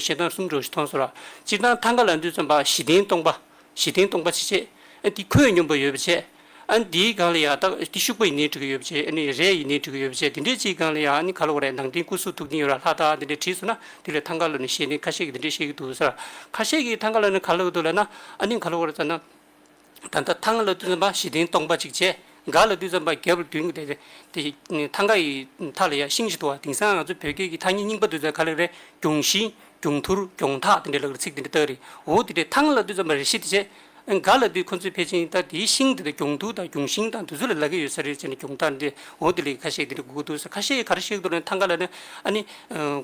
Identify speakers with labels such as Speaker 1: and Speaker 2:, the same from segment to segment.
Speaker 1: ཞེ་སྡང་གསུམ་གྲོགས་ཤིག་མཐོང་ཟེར་བ། སྤྱིར་བཏང་ཐང་ག་ལ་འདུས་ཙམ་པ་བཞི་ལྡན་སྟོང་པ། བཞི་ལྡན་སྟོང་པ་ཆེ་ཆེ། ཨ་འདི་ཁོད་སྙོམས་པ་ཡོད་པ་ཆེ། ཨ་འདིའི་སྒང་ལ་ཡང་དག་འདི་ཤུག་པ་ཡི་ནས་བྲི་གི་ཡོད་པ་ཆེ་ཨ་ནི་རས་ཡི་ནས་བྲི་གི་ཡོད་པ་ཆེ་འདི་འདྲའི་སྤྱིའི་སྒང་ལ་ཡང་ཨ་ནི་ག་ལ་བ་རས་ནང་བསྟན་སྐུ་གཟུགས་ཐུགས་འདིན་ཡོད་ར་ལྷ་དག་འདི་འདྲས་བྲིས་སོང་ན་དེ་ལས་ཐང་ག་ལ་ནི་ཤེས་ནི་ཁ་ཤས་ཀྱིས་འདི་འདྲས་བཤད་ཀྱི་འདུག་ཟེར་བ། ཁ་ཤས་ཀྱིས་ཐང་ག་ལ་ནི་ག་ལ་འདུག་ལ་ན་ཨ་ནི་ག་ལ་བ་ར་ཙམ་ན། ད་ལྟ་ཐང་ག་ལ་བཏུད་ཙམ་པ་བཞི་ལྡན་སྟོང་པ་གཅིག་བྱས། འགའ་ལ་བཏུད་ཙམ་པ་བརྒྱད་པོ་བདུན་དེ་དེ་ཐང་ག་ཡི་མཐའ་ལ་ཡང་ཤིང་ཞིག་འདུག་བ་དེང་སང་ང་ཚོའི་བོད་སྐད་ཀྱི་ཐ་སྙད་རྙིང་པ་བཏུད་ཙམ་ག་ལེགས་རེད་གྱོང་བཞི། གྱོང་ཐུར། གྱོང་ཐག་དེ་འདྲའི་ལགས་རེད་ཚིག་དེ་འདྲ་ལྟར་རེད་འོ་དེ་འདྲའི་ཐང་ག་ལ་བཏུད་ཙམ་པ་རེ་བཞི་དེ་བྱས། འགའ་ལ་བཏུད་ཁོ་ཚོས་ཕལ་ཆེན་ད་དེའི་ཤིང་དེ་དག་གྱོང་ཐུར་དང་གྱོང་ཤིང་དང་དེ་ཚོ་ལ་ལག་གི་ཡོད་ས་རེད་ཟེར་ནས་གྱོང་ཐག་འདྲི་འོ་དེ་ལས་ཁ་ཤས་དེ་འདྲ་དགོས་ཀྱི་འདུག་ཟེར་ཁ་ཤས་གར་ཞིག་འདུག་ན་ཐང་ག་ལ་ནི་ཨ་ནི་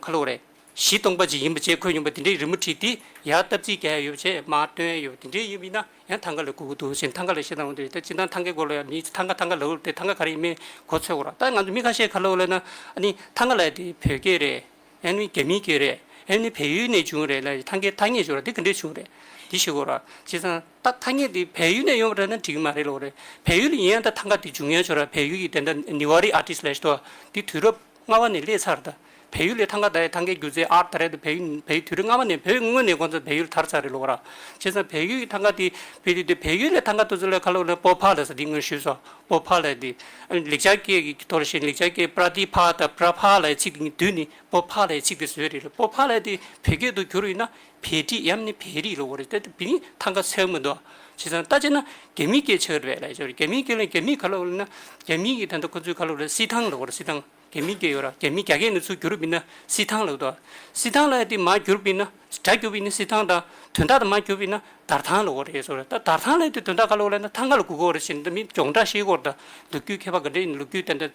Speaker 1: ག་ལོག་རེད། གཞི་སྟོང་པ་ཅིག་ཡིན་པ་བཅས་འཁོད་མྱོང་པ་དེ་འདྲའི་རི་མོ་བྲིས་ཏེ་ཡར་བཏབ་རྩིས་བརྒྱབ་ཡ་ཡོད་པ་བཅས་མ་སྟོན་ཡ་ཡོད་པ་དེ་འདྲའི་ཡིན་པ་ཡིན་ན་ཡང་ཐང་ག་ལ་སྒུག་གི་འདུག་ཅེས་ཐང་ག་ལ་ཤེས་དང་འོ་འདི་ལྟར་སྤྱིར་བཏང་ཐང་གའི་སྐོར་ལ་ཡང་མི་ཚོས་ཐང་ག་ཐང་ག་ལ་འུར་ཏེ་ཐང་ག་ག་རེ་ཡིན་མིན་གོ་ཚོད་དགོས་རོགས་ད་ང་ཚོ་མི་ཁ་ཤས་ཁ་ལོ་ལོས་ན་ཨ་ནི་ཐང་ག་ལ་དེ་བོད་སྐད་རེད་ཨེ་ནི་རྒྱ་མིའི་སྐད་རེད་ཨེ་ནི་བལ་ཡུལ་ནས་བྱུང་རེད་ལ་ཡི་ཐང་གའི་ཐ་སྙད་བྱུང་ར་དེ་ག་འདྲས་བྱུང་རེད་དེ་ཤེས་དགོས་རོགས་ཅེས་ཚང་ད་ཐ་སྙད་དེ་བལ་ཡུལ་ནས་ཡོང་བ་རེད་ན་འགྲིག་གི་མ་རེད་ལོག་རེད་བལ་ཡུལ་ལ་ཡིན་ཡང་ད་ཐང་ག་དེ་འབྱུང་ཡ་བྱུང་ར་བལ་ཡུལ་གྱི་དེ་འདྲ་ནི་ཝར་རི་ཨར་ཏིས་ལས་ཤེས་ཏོ་ཨ་དེ་དུས་རབས། ལྔ་བ་ནས་སླེ་ཚར་ད། བལ་ཡུལ་ལས་ཐང་ག་ད་ཡི་ཐང་གའི་རྒྱུ་རྫས་ཨར་ད་རེད་ད་བལ་ཡུལ་བལ་ཡུལ་དུས་རིག་ལྔ་བ་ནས་བོད་དངོས་ནས་གོ་ཚ་བལ་ཡུལ་དར་ཚར་རེད་ལོ་ག་ར། བྱས་ཙང་བལ་ཡུལ་ཡི་ཐང་ག་དེ་བི་དེ་དེ་བལ་ཡུལ་ལས་ཐང་ག་ཏུ་ཚུ་ལས་ཁ་ལོ་ལོ་པོ་ཕ་ལས་སོ་དེ་ངོས་ཞུས་སོ་པོ་ཕ་ལས་དེ། ལེགས་ཆ་སྐྱེས་ཀྱི་ཀྱི་ཐོ་ར་ཤེས་ལེགས་ཆ་སྐྱེས་པྲ་ཏི་ཕ་ད་པྲ་ཕ་ལ་ཡི་ཚིག་དེ་ངི་དུས་ནི་པོ་ཕ་ལ་ཡི་ཚིག་དེ་བཟོས་རེད་ལོ་པོ་ཕ་ལས་དེ་བོད་སྐད་དུ་གྱུར་ཡིན་ན་བེ་རི་དབྱམ་ནི་བེ་རི་ལོ་རེད་དེ་བེ་རི་ཐང་ག་ཚད་མི་འདུག་བྱས་ཙང་ལྟ་བྱས་ན་རྒྱ་མི་སྐད་ཆོད་རེད་ལ་ཅོ་རི་རྒྱ་མི་སྐད་ལ་རྒྱ་མི་ག་ལོ་ལ་ན་རྒྱ་མི་གི་ད་ནྡོ་ཁོ་ཚོའི་ག་ལོ་རེད་སི་ཐང་ལོ་རེད་སི་ཐང་རྒྱ་མི་སྐད་ཡོད་ར་རྒྱ་མི་རྒྱ་སྐད་ནི་ཚུ་འགྱུར་བི་ན་སི་ཐང་ལོ་དོ་སི་ཐང་ལ་དེ་མ་འགྱུར་བི་ན་སྒྲ་འགྱུར་བི་ན་སི་ཐང་དང་དོན་དག་དང་མ་འགྱུར་བི་ན་དར་ཐང་ལོ་རེད་ཅོ་རི་ད་དར་ཐང་ལ་དེ་དོན་དག་ག་ལོ་ལ་ན་ཐང་ག་ལ་གུག་གོ་རེད་བྱས་ནྡོ་མི་སྦྱོང་བསྒྲགས་ཤེས་སྐོར་དང་ལོ་རྒྱུས་མཁས་པ་ག་འདྲེ་ཡིན་ལོ་རྒྱུས་ད་ནྡོ་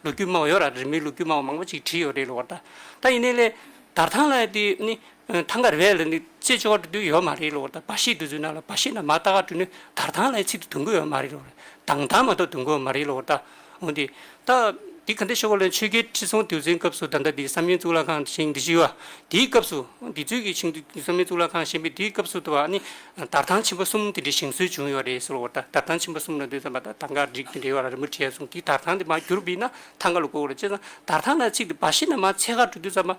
Speaker 1: ལོ་རྒྱུས་སྨྲ་བ་ཡོད་ར་རི་མོའི་ལོ་རྒྱུས་སྨྲ་བ་མང་པོ་ཅིག་བྲིས་ཡོད་རེད་ལོ་ར་ད་ད་ཡིན་ནའི་ལས་དར་ཐང་ལ་དེ་ནི་ཐང་ག་རེ་བས་ལ་ནི་ཅེ་ཅོ་བ་དུ་དུ་ཡོད་མ་རེད་ལོ་ད་བ་ཤིས་དུ་དུ་ན་ལ་བ་ཤིས་ན་མ་ད་ག་དུ་ནི་དར་ཐང་ལའི་ཚིག་དུ་དུ་གོ་ཡོད་མ་རེད་ལོ་དང་དང་མ་ཏོ་དུ་གོ་མ་རེད་ལོ་ད་འོ་དེ་ད་དེ་ག་འདི་ཤོ་གོ་ལན་ཆོས་རྒྱལ་ཁྲི་སྲོང་ལྡེའུ་བཙན་སྐབས་སུ་ད་ད་དེ་བསམ་ཡུལ་གཙུག་ལག་ཁང་བཞེངས་འདི་ཞུས་བ་དེའི་སྐབས་སུ་དེ་ཚོས་ཀྱི་ཆིང་དུ་བསམ་ཡུལ་གཙུག་ལག་ཁང་བཞེངས་པའི་དེའི་སྐབས་སུ་ད་བ་ནི་དར་ཐང་ཆེན་པོ་གསུམ་དེ་འདྲའི་བཞེངས་སྲོལ་བྱུང་ཡོད་རེད་ཟེར་ལོ་ད་དར་ཐང་ཆེན་པོ་གསུམ་ལ་འདོད་ཙམ་པ་ད་ཐང་ག་རིགས་དེ་འདྲའི་བ་ལ་རིན་པོ་ཆེ་གསུངས་དེ་དར་ཐང་དེ་མ་གྱུར་བས་ན་ཐང་ག་ལ་གོ་ལ་ཅེ་ན་དར་ཐང་ལའི་ཚིག་དུ་བ་ཤིས་ན་མ་ཚེ་ག་དུ་དུ་ཙམ་པ།